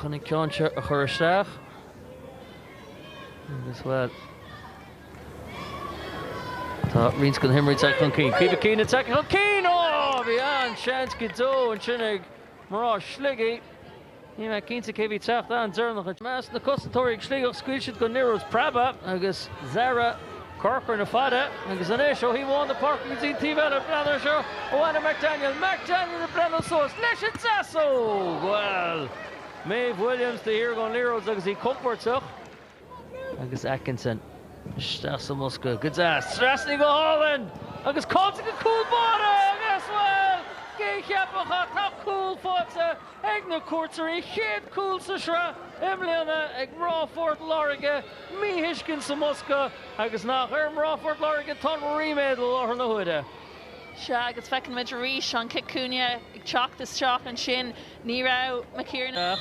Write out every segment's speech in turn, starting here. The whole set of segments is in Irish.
chun an ceann seo a chur isteach agus bhuel tá roinnt de na himreoirí tagtha chun cinn. Caoimhe Keane ag teacht chun cinn! Ó! Bhí an-seans go deo ansin ag mná Shligigh. Níl mé cinnte cé a bhí teacht an-deireanach. I measc na cosantóirí ag Sligeach, scaoil siad go Niruth Prabha agus Zara. Corcoran fada agus anois ó thaobh amháin den pháirc go dtí an taobh eile. Breathnaigh ar seo ó Anna McDaniel. McDaniel ag breathnú suas leis an deasóg! Bhuel, Maeve Williams de shíor gan liathróid agus í compóirteach. Agus Atkinson isteach sa mbosca. Go deas. Trasnaíonn go hálainn! Agus caillte ag an cúl báire! Agus, bhuel, cé a cheapfadh ach tá cúl faighte! ag na cuairteoirí chéad chúl sa sraith i mbliana ag mná Phort Láirge, míthuiscint sa mbosca agus nach ar mná Phort Láirge atá an ríméad i láthair na huaire. Sea, agus feiceann muid arís an cic cúinne ag teacht isteach ansin. Ní raibh McKiernan ná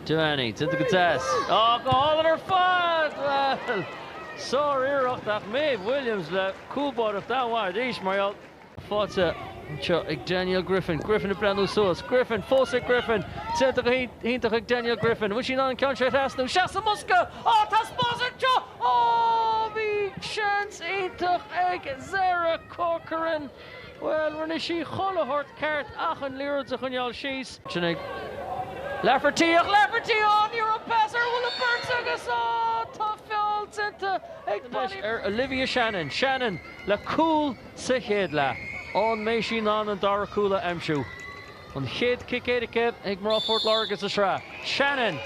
Devaney déanta go deas, ach go hálainn ar fad! Bhuel, sár-iarracht ach Maeve Williams le cúlbáireacht an-mhaith arís mar gheall. Faighte anseo ag Danielle Griffin. Griffin ag breathnú suas. Griffin fós ag Griffin! Déanta go hiontach ag Danielle Griffin. An bhfuil sí in ann an ceann seo a thrasnú? Isteach sa mbosca! Á, taispeántas anseo! Ó, bhí seans iontach ag Zara Corcoran! Bhuel, rinne sí chuile shórt ceart ach an liathróid a choinneáil síos. Sin ag Lafferty, ach Lafferty, á, ní raibh pas ar Wille-Perts agus, á, tá feall déanta ar Olivia Shannon. Shannon le cúl. Sa chéad leath, an mbeidh sí in ann an dara cúl a aimsiú. An chéad cic éirice ag mná Phort Láirge sa sraith, Shannon.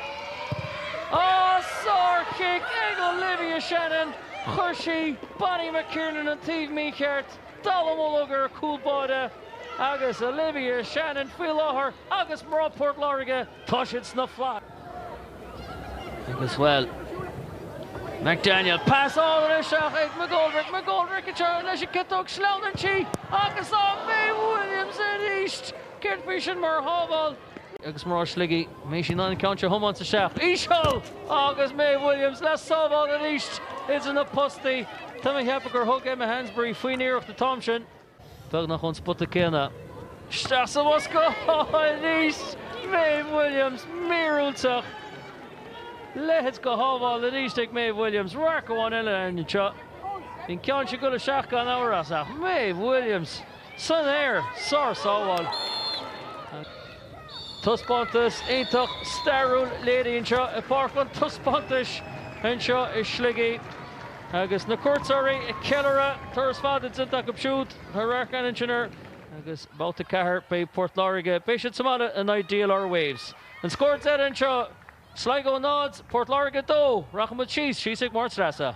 Ah, sárchic ag Olivia Shannon! Chuir sí Bonnie McKiernan an taobh mícheart, dallamullóg ar a cúl báire, agus Olivia Shannon faoi láthair agus mná Port Láirge Tá siad sna flaithis agus, bhuel, McDaniel. Pas álainn isteach ag McGoldrick. McGoldrick ag teannadh leis an gciotóg. Sleamhnaíonn sí agus Maeve Williams arís. Céard faoi sin mar shábháil? Agus mná Shligigh, mbeidh siad in ann an ceann seo a thiomáint isteach. Íseal! Agus Maeve Williams le sábháil arís idir na postaí. Tá mé a cheapadh gur thug Emma Hansberry faoin iarracht an t-am sin. beagnach ón spota céanna. Isteach sa mbosca arís! Maeve Williams, míorúilteach! Leithéid de shábháil arís ag Maeve Williams. Radharc amháin eile air anseo. Bhí an ceann sin ag dul isteach gan amhras, ach Maeve Williams san aer! Sár-sábháil. Taispeántas iontach stairiúil léirithe anseo i bPáirc an Taispeántais anseo i Sligidh agus na cuairteoirí ag ceiliúradh turas fada déanta acu siúd tá ár gceann in airde agus Babhta 4 beidh Port Láirge, beidh siad sa mbaile in aghaidh DLR Waves. An scór deiridh anseo, Sligo 0, Port Láirge 2. Rachaimid síos, síos ag Máire Treasa.